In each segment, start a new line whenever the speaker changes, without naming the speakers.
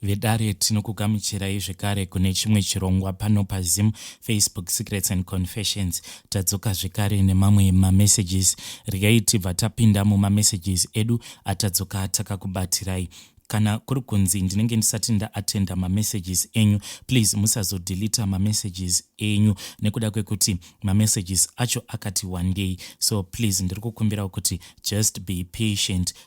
Vedare tinokugamuchirai zvekare kune chimwe chirongwa pano paZim Facebook Secrets and Confessions. Tadzoka zvekare nemamwe mamessages. Regai tibva tapinda mumamessages edu atadzoka takakubatirai. Kana kuri kunzi ndinenge ndisati ndaatenda mamessages enyu, please musazodelita mamessages enyu nekuda kwekuti mamessages acho akati wandei. So please ndiri kukumbirawo kuti just be patient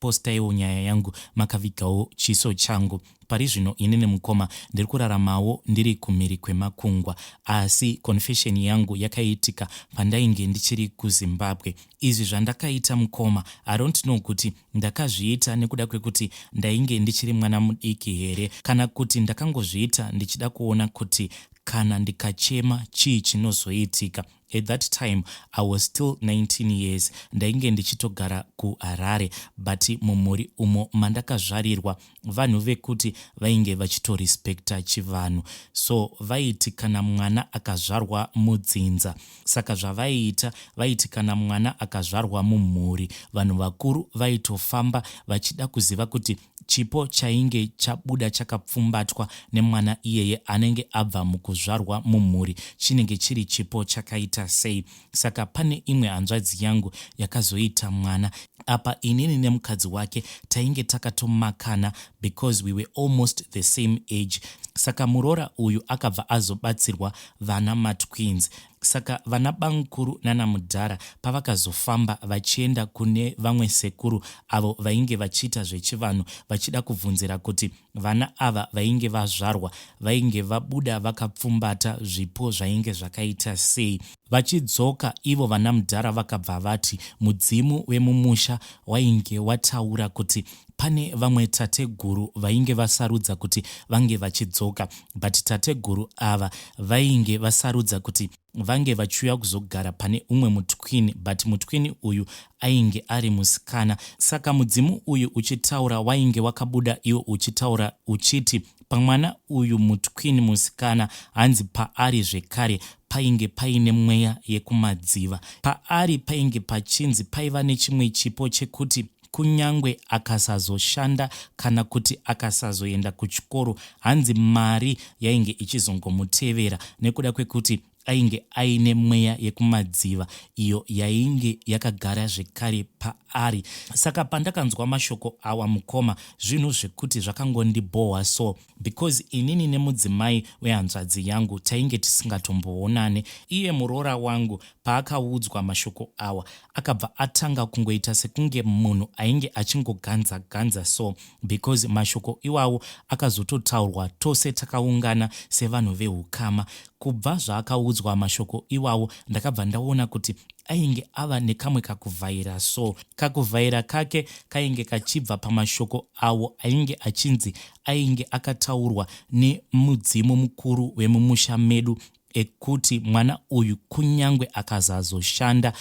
Postaiwo nyaya yangu makavigawo chiso changu. Pari zvino ini nemukoma ndiri kuraramawo ndiri kumhiri kwemakungwa asi confession yangu yakaitika pandainge ndichiri kuZimbabwe. Izvi zvandakaita mukoma I don't know kuti ndakazviita nekuda kwekuti ndainge ndichiri mwana mudiki here kana kuti ndakangozviita ndichida kuona kuti kana ndikachema chii chinozoitika. At that time I was still 19 years ndainge ndichitogara kuHarare but mumhuri umo mandakazvarirwa vanhu vekuti vainge vachitorespecta chivanhu so vaiti kana mwana akazvarwa mudzinza saka zvavaiita vaiti kana mwana akazvarwa mumhuri vanhu vakuru vaitofamba vachida kuziva kuti Chipo chainge chabuda chakapfumbatwa nemwana iyeye anenge abva mukuzvarwa mumhuri chinenge chiri chipo chakaita sei? Saka pane imwe hanzvadzi yangu yakazoita mwana apa inini nemukadzi wake tainge takatomakana because we were almost the same age saka muroora uyu akabva azobatsirwa vana matwins Saka vana bamkuru nana mudhara pavakazofamba vachienda kune vamwe sekuru avo vainge vachiita zvechivanhu vachida kubvunzira kuti vana ava vainge vazvarwa vainge vabuda vakapfumbata zvipo zvainge zvakaita sei. Vachidzoka ivo vana mudhara vakabva vati mudzimu wemumusha wainge wataura kuti pane vamwe tateguru vainge vasarudza kuti vange vachidzoka but tateguru ava vainge vasarudza kuti vange vachiuya kuzogara pane umwe mutwini but mutwini uyu ainge ari musikana saka mudzimu uyu uchitaura wainge wakabuda iwo uchitaura uchiti pamwana uyu mutwini musikana hanzi paari zvekare painge paine mweya yekumadziva paari painge pachinzi paiva nechimwe chipo chekuti kunyangwe akasazoshanda kana kuti akasazoenda kuchikoro hanzi mari yainge ichizongomutevera nekuda kwekuti ainge aine mweya yekumadziva iyo yainge yakagara zvekare paari saka pandakanzwa mashoko awa mukoma zvinhu zvekuti zvakangondibhohwa so because inini nemudzimai wehanzvadzi yangu tainge tisingatomboonane. Iye muroora wangu paakaudzwa mashoko awa akabva atanga kungoita sekunge munhu ainge achingoganza ganza so because mashoko iwawo akazototaurwa tose takaungana sevanhu vehukama. Kubva zvaakaudzwa mashoko iwawo ndakabva ndaona kuti ainge ava nekamwe kakuvhaira so kakuvhaira kake kainge kachibva pamashoko awo ainge achinzi ainge akataurwa nemudzimu mukuru wemumusha medu ekuti mwana uyu kunyange akazazoshanda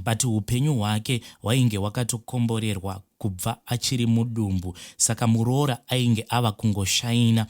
but upenyu hwake hwainge hwakatokomborerwa kubva achiri mudumbu saka muroora ainge ava kungoshaina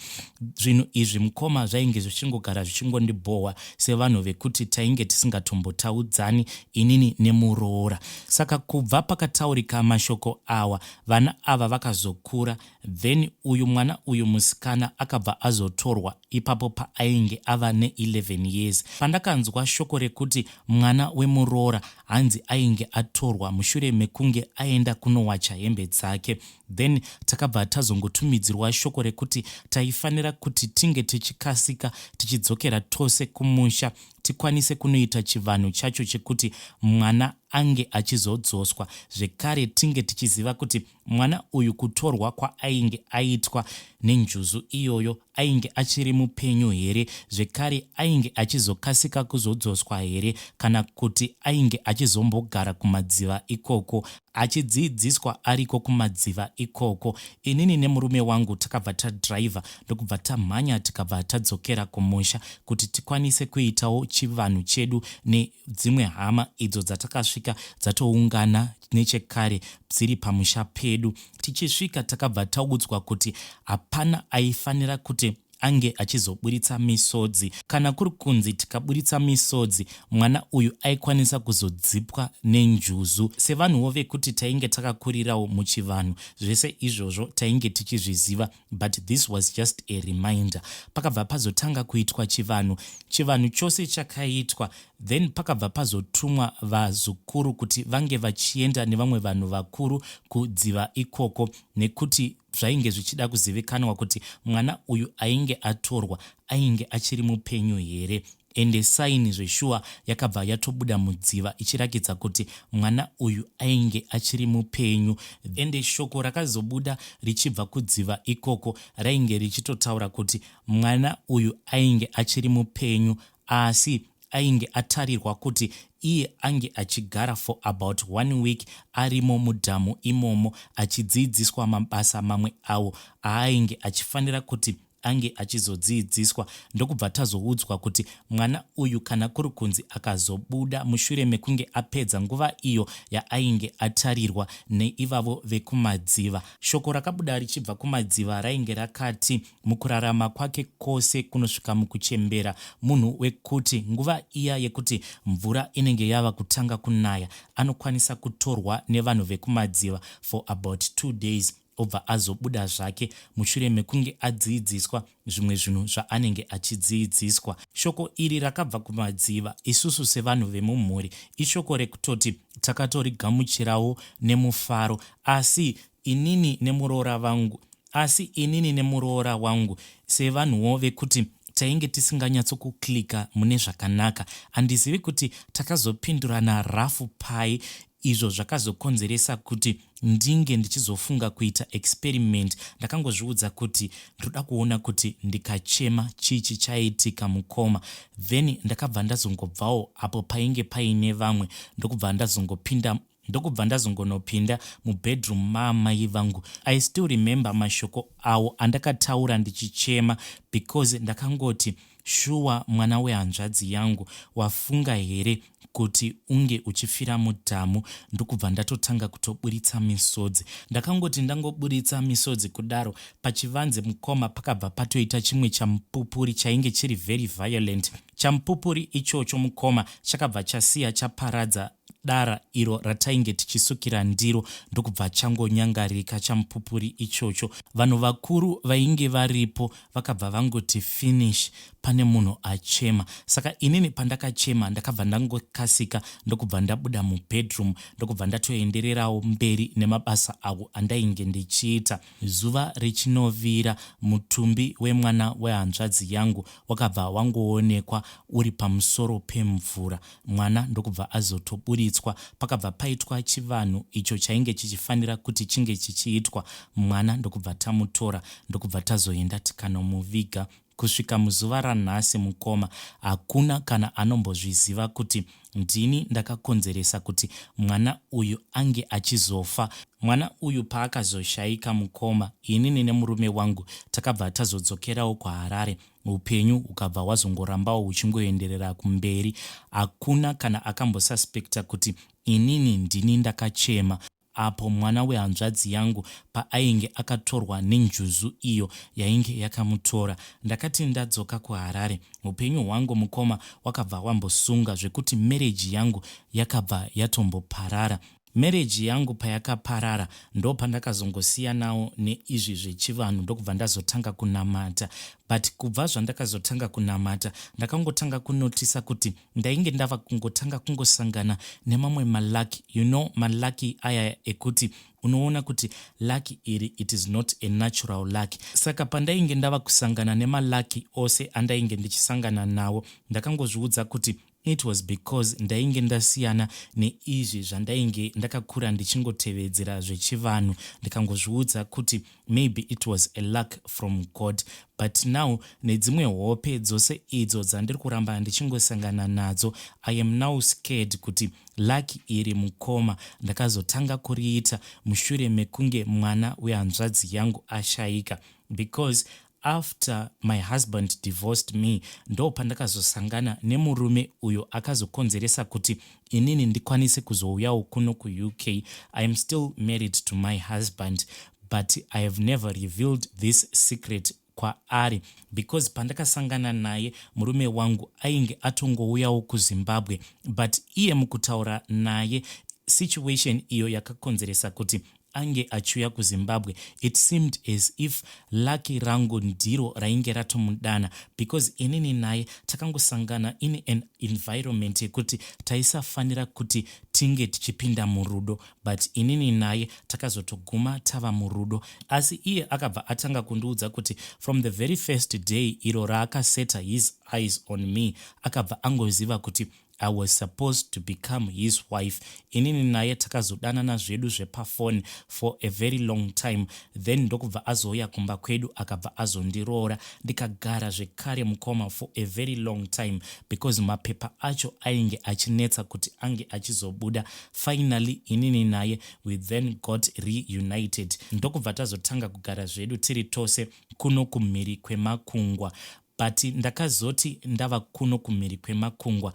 zvinhu izvi mukoma zvainge zvichingogara zvichingondibhohwa sevanhu vekuti tainge tisingatombotaudzani inini nemuroora saka kubva pakataurika mashoko awa vana ava vakazokura then uyu mwana uyu musikana akabva azotorwa ipapo paainge ava ne 11 years pandakanzwa shoko rekuti mwana wemuroora hanzi ainge atorwa mushure mekunge aenda kunowacha hembe dzake then takabva tazongotumidzirwa shoko rekuti taifanira kuti tinge tichikasika tichidzokera tose kumusha tikwanise kunoita chivanhu chacho chekuti mwana ange achizodzoswa zvekare tinge tichiziva kuti Mwana uyu kutorwa kwaainge aitwa nenjuzu iyoyo ainge achiri mupenyu here zvekare ainge achizokasika kuzodzoswa here kana kuti ainge achizombogara kumadziva ikoko achidziidziswa ariko kumadziva ikoko. Inini nemurume wangu takabva tadriver ndokubva tamhanya tikabva tadzokera kumusha kuti tikwanise kuitawo chivanhu chedu ne dzimwe hama idzo dzatakasvika dzatoungana nechekare dziri pamusha pedu tichisvika takabva taudzwa kuti hapana aifanira kuti ange achizoburitsa misodzi kana kuri kunzi tikaburitsa misodzi mwana uyu aikwanisa kuzodzipwa nenjuzu sevanhuwo vekuti tainge takakurirawo muchivanhu zvese izvozvo tainge tichizviziva but this was just a reminder pakabva pazotanga kuitwa chivanhu chivanhu chose chakaitwa then pakabva pazotumwa vazukuru kuti vange vachienda nevamwe vanhu vakuru kudziva ikoko nekuti zvainge zvichida kuzivikanwa kuti mwana uyu ainge atorwa ainge achiri mupenyu here Ende sign zveshuwa yakabva yatobuda mudziva ichirakidza kuti mwana uyu ainge achiri mupenyu. Ende shoko rakazobuda richibva kudziva ikoko rainge richitotaura kuti mwana uyu ainge achiri mupenyu asi ainge atarirwa kuti iye ange achigara for about one week arimo mudhamu imomo achidziidziswa mabasa mamwe awo aainge achifanira kuti ange achizodziidziswa ndokubva tazoudzwa kuti mwana uyu kana kuri kunzi akazobuda mushure mekunge apedza nguva iyo yaainge atarirwa neivavo vekumadziva. Shoko rakabuda richibva kumadziva rainge rakati mukurarama kwake kwose kunosvika mukuchembera munhu wekuti nguva iya yekuti mvura inenge yava kutanga kunaya anokwanisa kutorwa nevanhu vekumadziva for about two days obva azobuda zvake mushure mekunge adziidziswa zvimwe zvinhu zvaanenge achidziidziswa. Shoko iri rakabva kumadziva. Isusu sevanhu vemumhuri, ishoko rekutoti takatorigamuchirawo nemufaro. Asi inini nemuroora vangu, asi inini nemuroora wangu sevanhuwo vekuti tainge tisinganyatso kuclicker mune zvakanaka. Handizivi kuti takazopindurana rafu pai izvo zvakazokonzeresa kuti ndinge ndichizofunga kuita experiment ndakangozviudza kuti ndoda kuona kuti ndikachema chii chichaitika mukoma then ndakabva ndazongobvawo apo painge paine vamwe ndokubva ndazongopinda ndokubva ndazongonopinda mubedroom maamai vangu i still remember mashoko awo andakataura ndichichema because ndakangoti Shuwa mwana wehanzvadzi yangu wafunga here kuti unge uchifira mudhamu ndokubva ndatotanga kutoburitsa misodzi. Ndakangoti ndangoburitsa misodzi kudaro pachivanze mukoma pakabva patoita chimwe chamupupuri chainge chiri very violent. Chamupupuri ichocho mukoma chakabva chasiya chaparadza dara iro ratainge tichisukira ndiro ndokubva changonyangarika chamupupuri ichocho. Vanhu vakuru vainge varipo vakabva vangoti finish pane munhu achema. Saka inini pandakachema ndakabva ndangokasika ndokubva ndabuda mubedroom ndokubva ndatoendererawo mberi nemabasa awo andainge ndichiita. Zuva richinovira mutumbi wemwana wehanzvadzi yangu wakabva wangoonekwa uri pamusoro pemvura. mwana ndokubva azotoburitswa. Pakabva paitwa chivanhu icho chainge chichifanira kuti chinge chichiitwa, mwana ndokubva tamutora ndokubva tazoenda tikanomuviga. Kusvika muzuva ranhasi mukoma, hakuna kana anombozviziva kuti ndini ndakakonzeresa kuti mwana uyu ange achizofa. Mwana uyu paakazoshaika mukoma, inini nemurume wangu takabva tazodzokerawo kuHarare. Upenyu ukabva hwazongorambawo huchingoenderera kumberi. Hakuna kana akambosuspecta kuti inini ndini ndakachema apo mwana wehanzvadzi yangu paainge akatorwa nenjuzu iyo yainge yakamutora. Ndakati ndadzoka kuHarare, upenyu hwangu mukoma wakabva wambosunga zvekuti marriage yangu yakabva yatomboparara. Marriage yangu payakaparara ndopandakazongosiyanawo neizvi zvechivanhu ndokubva ndazotanga kunamata but kubva zvandakazotanga kunamata ndakangotanga kunotisa kuti ndainge ndava kungotanga kungosangana nemamwe malucky you know malucky aya ekuti unoona kuti lucky iri it is not a natural lucky saka pandainge ndava kusangana nemalucky ose andainge ndichisangana nawo ndakangozviudza kuti It was because ndainge ndasiyana neizvi zvandainge ndakakura ndichingotevedzera zvechivanhu ndikangozviudza kuti maybe it was a luck from God but now nedzimwe hope dzose idzo dzandiri kuramba ndichingosangana nadzo I am now scared kuti luck iri mukoma ndakazotanga kuriita mushure mekunge mwana wehanzvadzi yangu ashaika because After my husband divorced me ndopandakazosangana nemurume uyo akazokonzeresa kuti inini ndikwanise kuzouyawo kuno kuUK. I am still married to my husband but I have never revealed this secret kwaari because pandakasangana naye murume wangu ainge atongouyawo kuZimbabwe but iye mukutaura naye situation iyo yakakonzeresa kuti ange achiuya kuZimbabwe it seemed as if lucky rangu ndiro rainge ratomudana because inini naye takangosangana in an environment yekuti taisafanira kuti tinge tichipinda murudo but inini naye takazotoguma tava murudo asi iye akabva atanga kundiudza kuti from the very first day iro raakaseta his eyes on me akabva angoziva kuti I was supposed to become his wife inini naye takazodanana zvedu zvepafoni for a very long time then ndokubva azouya kumba kwedu akabva azondiroora ndikagara zvekare mukoma for a very long time because mapepa acho ainge achinetsa kuti ange achizobuda finally inini naye we then got reunited ndokubva tazotanga kugara zvedu tiri tose kuno kumhiri kwemakungwa but ndakazoti ndava kuno kumhiri kwemakungwa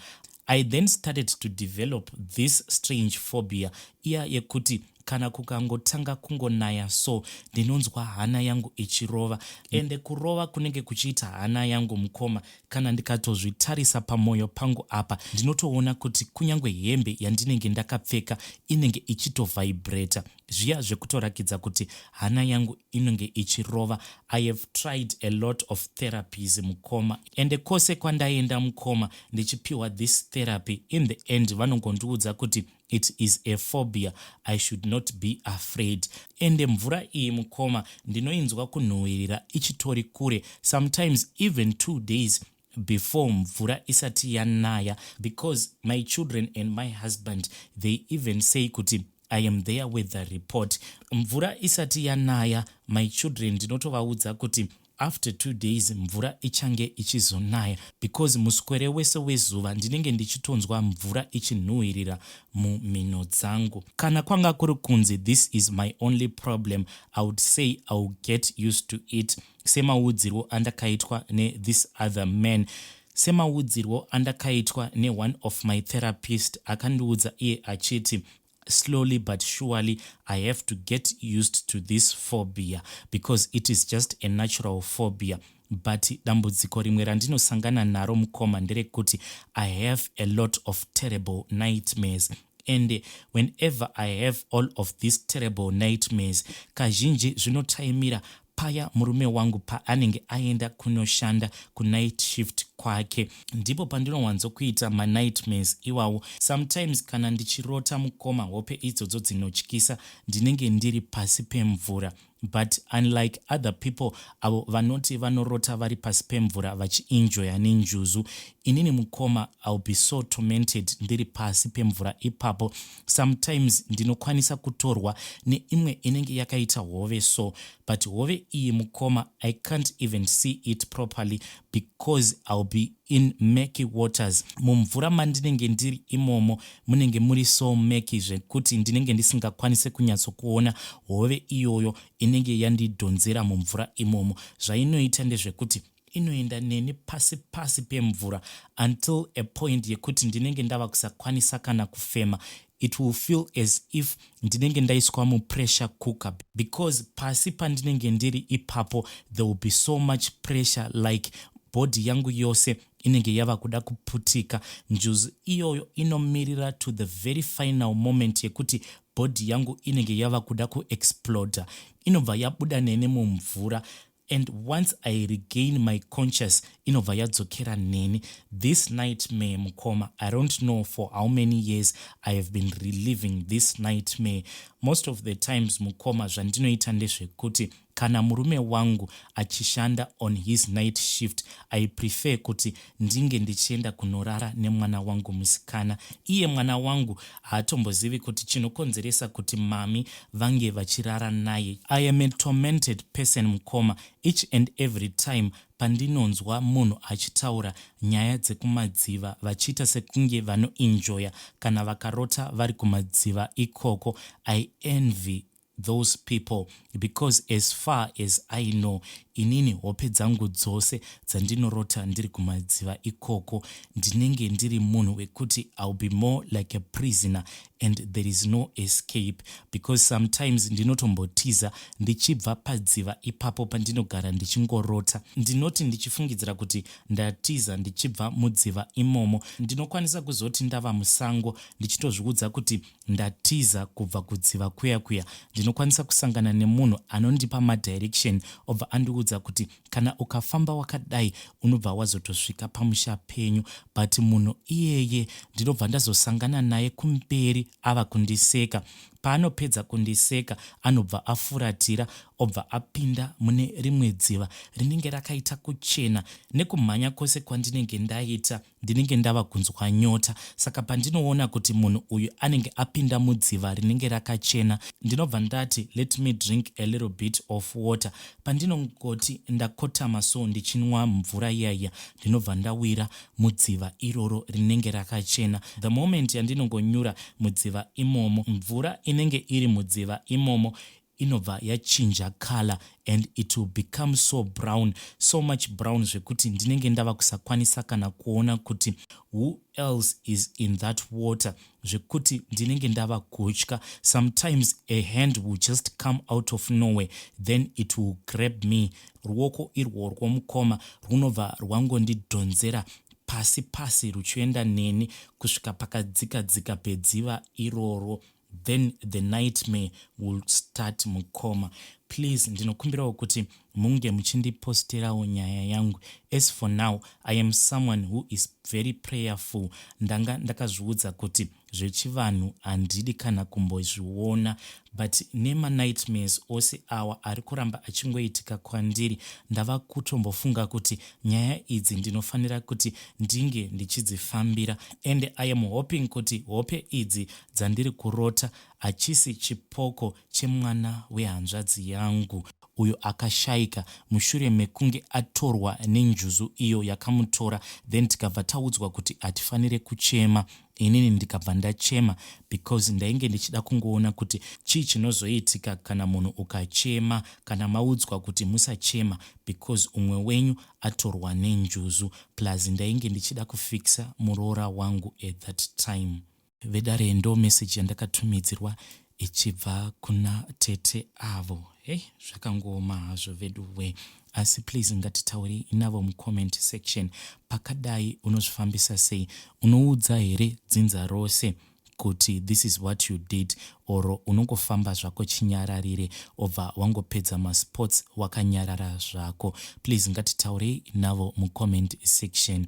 I then started to develop this strange phobia iya yekuti kana kukangotanga kungonaya so ndinonzwa hana yangu ichirova ende kurova kunenge kuchiita hana yangu mukoma kana ndikatozvitarisa pamoyo pangu apa ndinotoona kuti kunyange hembe yandinenge ndakapfeka inenge ichitovhaibreta zviya zvekutorakidza kuti hana yangu inenge ichirova i have tried a lot of therapies mukoma ende kwose kwandaenda mukoma ndichipiwa this therapy in the end vanongondiudza kuti it is a phobia i should not be afraid ende mvura iyi mukoma ndinoinzwa kunhuhwirira ichitori kure sometimes even two days before mvura isati yanaya because my children and my husband they even say kuti I am there with the report mvura isati yanaya my children ndinotovaudza kuti after two days mvura ichange ichizonaya because muswere wese wezuva ndinenge ndichitonzwa mvura ichinhuhwirira mumhino dzangu kana kwanga kuri kunzi this is my only problem i would say iwill get used to it semaudzirwo andakaitwa ne this other man semaudzirwo andakaitwa ne one of my therapist akandiudza iye achiti slowly but surely i have to get used to this phobia because it is just a natural phobia but dambudziko rimwe randinosangana naro mukoma nderekuti i have a lot of terrible nightmares and whenever i have all of these terrible nightmares kazhinji zvinotaimira Paya murume wangu paanenge aenda kunoshanda kunight shift kwake ndipo pandinowanzokuita manightmares iwawo. Sometimes kana ndichirota mukoma hope idzodzo dzinotyisa ndinenge ndiri pasi pemvura but unlike other people avo vanoti vanorota vari pasi pemvura vachienjoya nenjuzu inini mukoma I'll be so tormented ndiri pasi pemvura ipapo sometimes ndinokwanisa kutorwa neimwe inenge yakaita hove so but hove iyi mukoma i can't even see it properly because ill be in macky waters mumvura mandinenge ndiri imomo munenge muri so macky zvekuti ndinenge ndisingakwanise kunyatsokuona hove iyoyo inenge yandidhonzera mumvura imomo zvainoita ndezvekuti inoenda neni pasi pasi pemvura until a point yekuti ndinenge ndava kusakwanisa kana kufema it will feel as if ndinenge ndaiswa mupressure cooker because pasi pandinenge ndiri ipapo there will be so much pressure like body yangu yose inenge yava kuda kuputika njuzu iyoyo inomirira to the very final moment yekuti body yangu inenge yava kuda kuexploda inobva yabuda neni mumvura and once i regain my conscious inobva yadzokera neni this nightmare mukoma i don't know for how many years i have been reliving this nightmare most of the times mukoma zvandinoita ndezvekuti kana murume wangu achishanda on his night shift i prefer kuti ndinge ndichienda kunorara nemwana wangu musikana. Iye mwana wangu haatombozivi kuti chinokonzeresa kuti mami vange vachirara naye. I am a tormented person mukoma, each and every time pandinonzwa munhu achitaura nyaya dzekumadziva vachiita sekunge vanoenjoyer kana vakarota vari kumadziva ikoko, I envy those people because as far as I know inini hope dzangu dzose dzandinorota ndiri kumadziva ikoko ndinenge ndiri munhu wekuti I'll be more like a prisoner and there is no escape because sometimes ndinotombotiza ndichibva padziva ipapo pandinogara ndichingorota ndinoti ndichifungidzira kuti ndatiza ndichibva mudziva imomo ndinokwanisa kuzoti ndava musango ndichitozviudza kuti ndatiza kubva kudziva kuya kuya ndinokwanisa kusangana nemunhu anondipa madirection obva andiudza kuti kana ukafamba wakadai unobva wazotosvika pamusha penyu but munhu iyeye ndinobva ndazosangana naye kumberi ava kundiseka paanopedza kundiseka anobva afuratira obva apinda mune rimwe dziva rinenge rakaita kuchena nekumhanya kwose kwandinenge ndaita ndinenge ndava kunzwa nyota saka pandinoona kuti munhu uyu anenge apinda mudziva rinenge rakachena ndinobva ndati let me drink a little bit of water pandinongoti ndakotama so ndichinwa mvura iyaiya ndinobva ndawira mudziva iroro rinenge rakachena the moment yandinongonyura mudziva imomo mvura inenge iri mudziva imomo inobva yachinja colour and it will become so brown so much brown zvekuti ndinenge ndava kusakwanisa kana kuona kuti who else is in that water zvekuti ndinenge ndava kutya sometimes a hand will just come out of nowhere then it will grab me ruoko irworwo mukoma rwunobva rwangondidhonzera pasi pasi ruchienda neni kusvika pakadzika dzika pedziva iroro then the nightmare will start mukoma please ndinokumbirawo kuti munge muchindipostirawo nyaya yangu as for now i am someone who is very prayerful ndanga ndakazviudza kuti zvechivanhu handidi kana kumbozviona but nemanightmares ose awa ari kuramba achingoitika kwandiri ndava kutombofunga kuti nyaya idzi ndinofanira kuti ndinge ndichidzifambira and i am hoping kuti hope idzi dzandiri kurota hachisi chipoko chemwana wehanzvadzi yangu uyo akashaika mushure mekunge atorwa nenjuzu iyo yakamutora then tikabva taudzwa kuti hatifanire kuchema inini ndikabva ndachema because ndainge ndichida kungoona kuti chii chinozoitika kana munhu ukachema kana maudzwa kuti musachema because umwe wenyu atorwa nenjuzu plus ndainge ndichida kufixa muroora wangu at that time Vedare ndo message yandakatumidzirwa ichibva kuna tete avo. Hey, zvakangooma hazvo veduwe. Asi please ngatitaurei navo mucomment section. Pakadai unozvifambisa sei? Unoudza here dzinza rose kuti this is what you did or unongofamba zvako chinyararire obva wangopedza masports wakanyarara zvako? Please ngatitaurei navo mucomment section.